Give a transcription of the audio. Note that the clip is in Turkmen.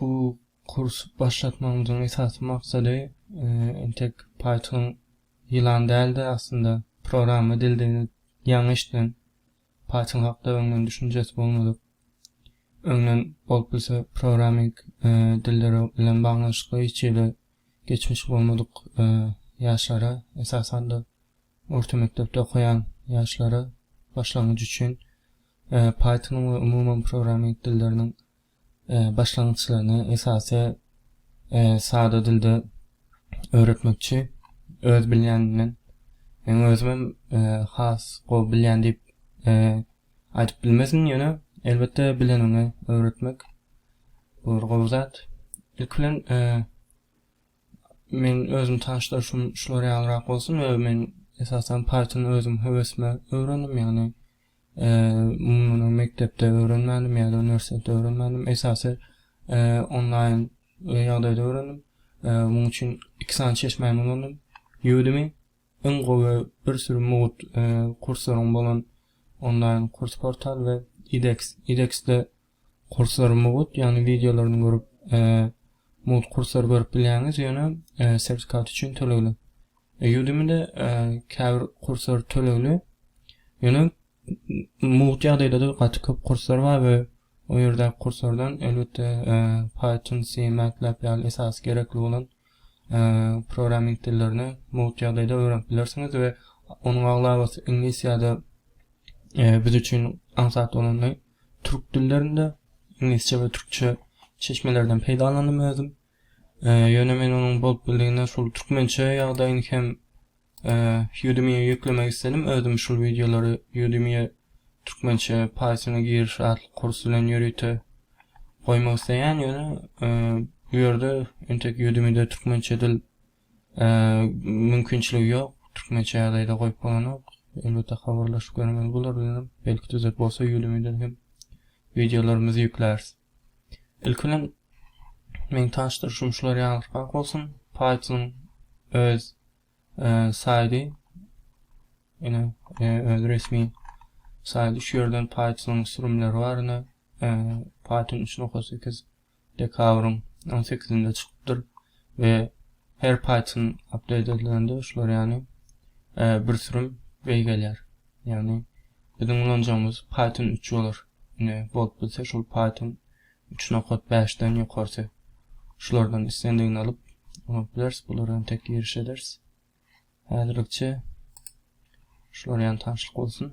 Bu kursy başlatmagymyzyň esasy maksady entek Python ýylan däl-de, aslynda programma dildigini ýaňy eşiden, Python hakda öňden düşünjesi bolmadyk, öňden bolup bilse programming dilleri bilen baglanyşykly hiç ýerde geçmişi bolmadyk ýaşlara, esasan-da orta mekdepde okaýan ýaşlara başlangyç üçin Python-yň we umuman programming dilleriniň başlangyçlaryny esasy sada dilde öwretmekçi. Öz bilýänimden men özümem has gowy bilýän diýip aýdyp bilmezin, ýöne elbetde bileniňi öwretmek bu bir gowy zat. Ilki bilen Men özüm tanyşdyryşym şular ýalyrak bolsun we men esasan Python özüm höwesime öwrendim ýagny muny mekdepde öwrenmändim ýa-da uniwersitetde öwrenmändim esasy onlaýn ýagdaýda öwrendim munuň üçin iki sany çeşmäni ulandym Udemy iň gowy bir sürü mugut kurslaryň bolan onlaýn kurs portal we edX edXde Kursory mugut ýagny wideolaryny görüp mugt kursor görüp bilýäňiz ýöne sertifikat üçin tölegli. Udemy-de käbir kursor tölegli. Ýöne mugt ýagdaýda-da gaty köp kursor bar we o ýerdäki kursordan elbetde Python, C, MATLAB ýaly esasy gerekli bolan programming dillerini mugt ýagdaýda öwrenip bilersiňiz we onuň aglabasy iňlis ýa-da biz üçin aňsat bolany Türk dillerinde iňlisçe we türkçe çeşmelerden peýdalandym özüm. Ýöne men onuň bolup bildigine şol türkmençe ýagdaýyny hem Udemy-ýe ýüklemek isledim. Özüm şul wideolary Udemy-ýe türkmençe Python-a giriş atly kurs bilen ýörite goýmak isleýän. Ýöne bu ýerde entek Udemy-de türkmençe dil Mümkinçiligi ýok, türkmençe ýagdaýda goýup bolanok. Elbetde habarlaşyp görmeli bolarys ýöne belki düzet bolsa ýulimedan hem wideolarymyzy ýükläris. Ilki bilen meň tanyşdyryşym şular ýalyrkak bolsun. Python öz saýdy ýöne öz resmi saýdy şu ýerden Python sürümleri bar ýöne Python 3.8 dekabryň on sekizinde çykypdyr we her Python update edilende şular ýaly bir sürüm beý gelýär. Ýagny biziň ulanjagymyz Python üç bolar. Ine bolup bilse şol Python üç nokat bäşden ýokarsy. Şulardan islendigini alyp ulanyp bileris. Bulara hem tek giriş ederis. Häzirlikçe şular ýaly tanşlyk bolsun.